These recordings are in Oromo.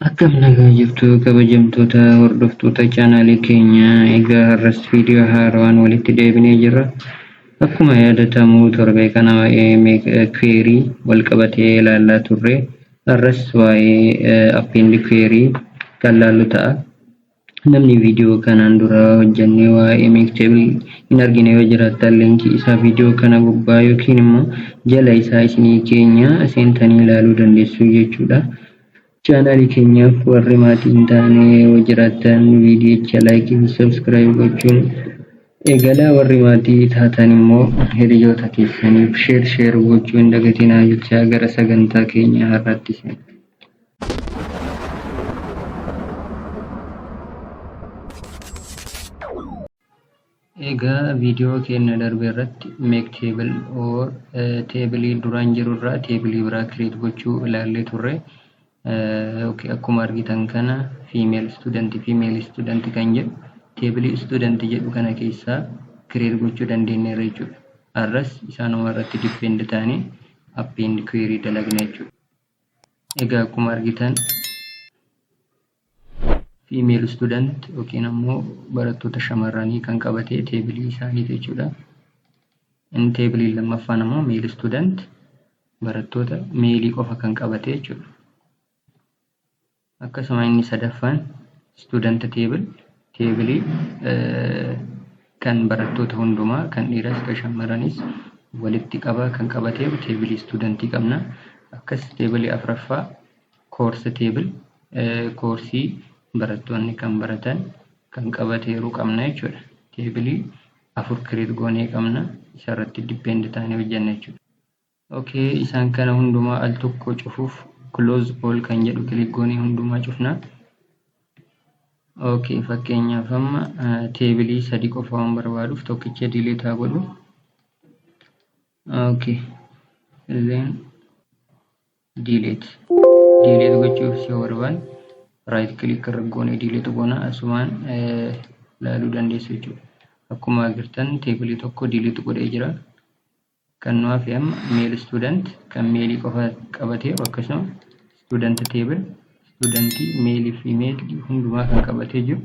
Akkam nagaa jirtu kabajamtoota hordoftoota chaanaalii keenya egaa har'as viidiyoo haarawaan walitti deebinee jirra. Akkuma yaadatamu torbee kana waa'ee query wal qabatee ilaallaa turre har'as waa'ee append query kan laallu ta'a. Namni video kanaan dura hojjannee waa'ee Mixtable hin argine yoo jiraattan link isaa video kana gubbaa yookiin immoo jala isaa isinii keenya seentanii ilaaluu dandeessuu jechuudha. Chaanaalii keenyaaf warri maatii hin taane yoo jiraattan viidiyicha like fi subscribe gochuun eegalaa warri maatii taatan immoo hiriyoota keessaniif share share gochuu hin dagatinaa jechaa gara sagantaa keenya har'aatti seena. Egaa viidiyoo keenya darbe irratti make table or teebilii duraan jiru irraa teebilii biraa create gochuu ilaallee turre. Akkuma argitan kana female student female student kan jedhu teebilii student jedhu kana keessaa create gochuu dandeenyeerra jechuudha. Har'as isaanuma irratti depend taanee append query dalagna jechuudha. egaa akkuma argitan female student yookiin ammoo barattoota shamarranii kan qabate teebilii isaanii jechuudha. Inni teebiliin lammaffaan ammoo male student barattoota meelii qofa kan qabate jechuudha. Akkasuma inni sadaffaan student table teebilii kan barattoota hundumaa kan dhiiras kan shammaranis walitti qabaa kan qabateeru teebilii studentii qabna. Akkas teebilii afraffaa course table koorsii barattoonni kan baratan kan qabateeru qabna jechuudha. Teebilii afur create goonee qabna isarratti depend taanee hojjenna jechuudha. Ok isaan kana hundumaa al tokko cufuuf close all kan jedhu click goonee hundumaa cufna. Ok fakkeenyaaf amma teebilii sadii qofa waan barbaaduuf tokkicha delete haa godhu. Ok then delete delete gochuuf si barbaan right click irra goonee delete goona asumaan ilaaluu dandeessu jechuudha. Akkuma agartan teebilii tokko delete godhee jira. Kan nu hafe amma male student kan male qofa qabateeru akkasuma student table studentii male fi female hundumaa kan qabatee jiru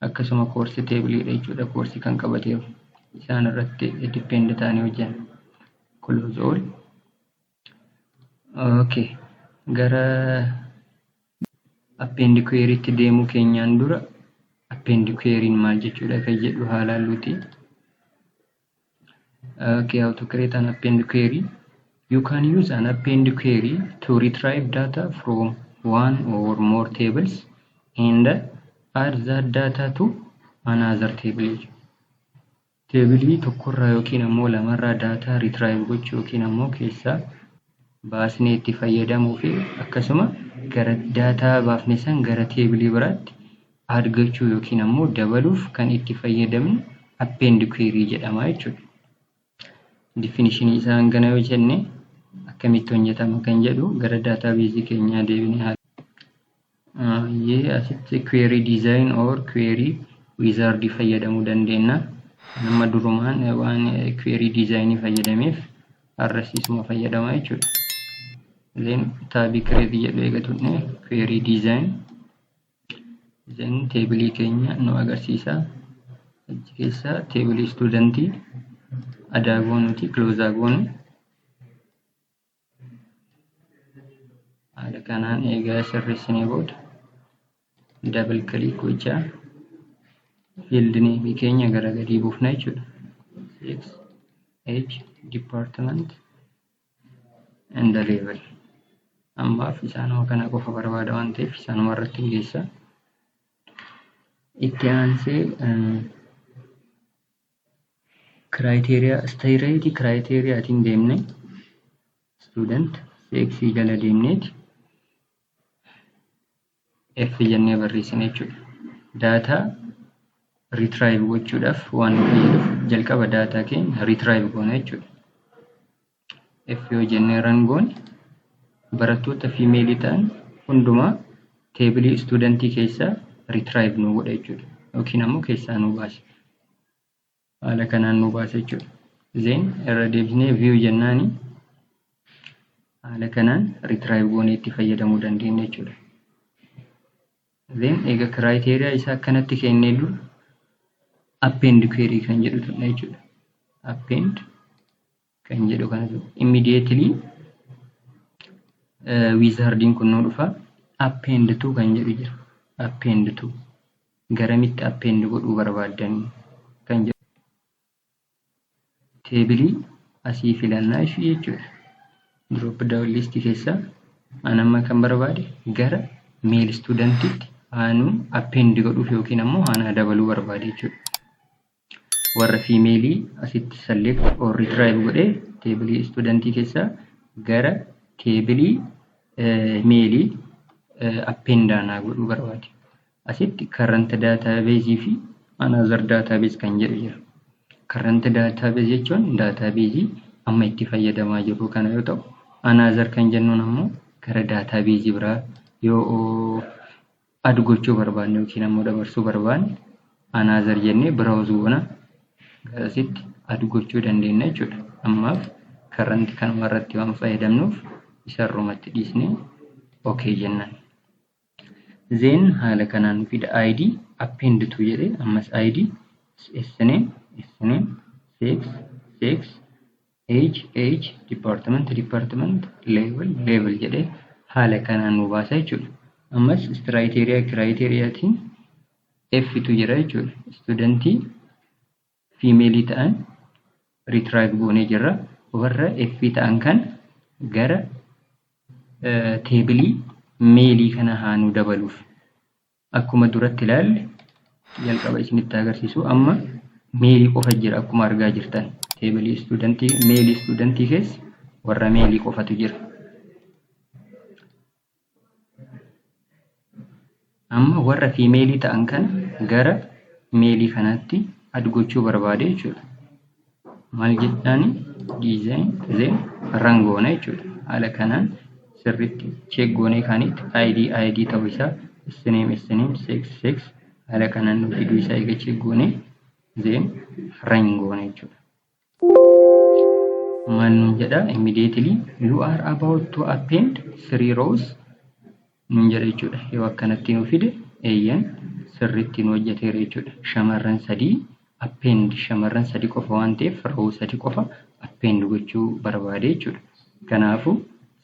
akkasuma course table dha jechuudha course kan qabateeru isaan irratti depend ta'anii hojjenna. Close all. Okay. Gara append query itti deemuu keenyaan dura append query maal jechuudha kan jedhu haalaa luuti. Okay, how to create an append query. You can use an append query to retrieve data from one or more tables and add that data to another table. Teebilii tokkorraa yookiin ammoo lamarraa daataa retrieve gochuu yookiin ammoo keessaa baasnee itti fayyadamuu fi akkasuma gara daataa baafne san gara teebilii biraatti add gochuu yookiin ammoo dabaluuf kan itti fayyadamnu append query jedhama jechuudha. Definishinii isaa hangana yoo jenne akkamitti hojjetama kan jedhu gara daataabeezii keenyaa deebinee haala Yee asitti query design or query wizard fayyadamuu dandeenya. Nama durumaan waan query design fayyadameef arrasiisuma fayyadama jechuudha. Then taabii create jedhu eega tuqne query design then teebilii keenya nu agarsiisa. Achi keessa teebilii istuudantii adaa goonuti close goonu. haala kanaan eegaa sirreessinee booda dabal kiliik gochaa field name keenya gara gadii buufna jechuudha. Sex, age, department and the level. Ammaaf isaanuma kana qofa barbaada waan ta'eef isaanuma irratti hin geessa. Itti aansee Criteria straight criteria tiin deemne student cx jala deemneeti f jennee barreessine jechuudha. Data retrieve gochuudhaaf waan nu fayyadu jalqaba data keenya retrieve goona jechuudha. F yoo jennee ran goone barattoota fiimeelii ta'an hundumaa teebilii istuudantii keessaa ritraayiv nuu godha jechuudha. Yookiin ammoo keessaa nuu baase. Haala kanaan nuu baase jechuudha. Zeen irra deebisnee view jennaani haala kanaan ritraayiv goonee itti fayyadamuu dandeenya jechuudha. Zeen egaa kiraayiteriyaa isaa akkanatti kennee dura append query kan jedhu tuqna jechuudha. Append kan jedhu kanatu immediately wizardiin kun nu dhufa append to kan jedhu jira append to garamitti append godhuu barbaaddan kan jedhu teebilii asii filannaa ishii jechuudha drop down list keessaa an amma kan barbaade gara meel istuudantitti haanuu append godhuuf yookiin ammoo haanaa dabaluu barbaade jechuudha warra female asitti select or retrieve godhee teebilii istuudantii keessaa gara teebilii meelii appendaanaa godhuu barbaade. Asitti current database fi another database kan jedhu jira. Current database jechuun database amma itti fayyadamaa jirru kana yoo ta'u, another kan jennuun ammoo gara database biraa yoo add gochuu barbaanne yookiin ammoo dabarsuu barbaanne another jennee browse goona gara asitti add gochuu dandeenya jechuudha. Ammaaf current kanuma irratti waan fayyadamnuuf isa irrumatti dhiisnee okay jenna. Then haala kanaan nu fida ID append to jedhee ammas ID sna sna sex sex Age, age, department, department, level, level jedhee haala kanaan nu baasa jechuudha. Ammas istiraayiteeriyaa, kiraayiteeriyaatiin Ftu jira jechuudha. Istuudantii fiimeelii ta'an riitiraayiv goonee jirra. Warra F ta'an kan gara teebilii meelii kana haa nu dabaluuf. Akkuma duratti ilaalle jalqaba isinitti agarsiisu amma meelii qofa jira akkuma argaa jirtan teebilii istuudantii meelii istuudantii keessa warra meelii qofatu jira. Amma warra fiimeelii ta'an kana gara meelii kanaatti ad gochuu barbaade jechuudha. maal jedhaani design then run goona jechuudha. Haala kanaan sirriitti check goonee kaanitti ID ID ta'uu isaa sname sname sex sex haala kanaan nu fiduu isaa eega check goonee then run goona jechuudha. Maal nuun jedha immediately you are about to append three rows nuun jedha jechuudha. Yoo akkanatti nuu fide eeyyan sirriitti nu hojjeteera jechuudha. Shamarran sadii append shamarran sadii qofa waan ta'eef rawuu sadii qofa append gochuu barbaade jechuudha. Kanaafu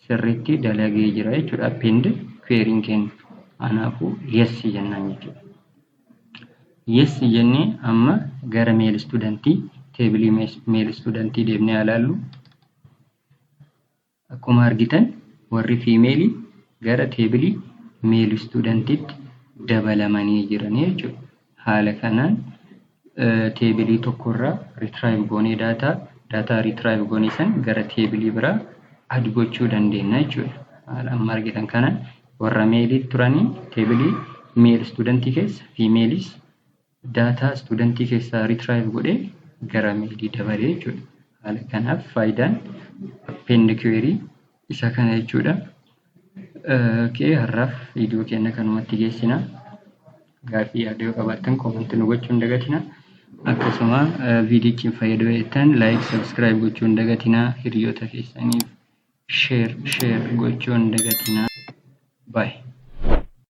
sirriitti dalagee jira jechuudha append query'n keenya. Kanaafu yes jennaan jechuudha. Yes jennee amma gara male studentii teebilii male studentii deemnee haa laallu. Akkuma argitan warri female gara table male student tti dabalamanii jiranii jechuudha. Haala kanaan table tokko irraa retrieve goonee data, data retrieve goone san gara table biraa add gochuu dandeenya jechuudha. Haala amma argitan kanaan warra male turanii table male student keessa females daataa istuudantii keessaa retrive godhee gara meelii dabalee jechuudha. Haala kanaaf faayidaan append query isa kana jechuudha. Okay, har'aaf viidiyoo keenya kanumatti geessina. Gaaffii yaada yoo qabaattan koomantii nu gochuun dagatina. Akkasuma viidiyichi hin fayyadu jettan like, subscribe gochuun dagatina. Hiriyoota keessaniif share share gochuun dagatina. Bye.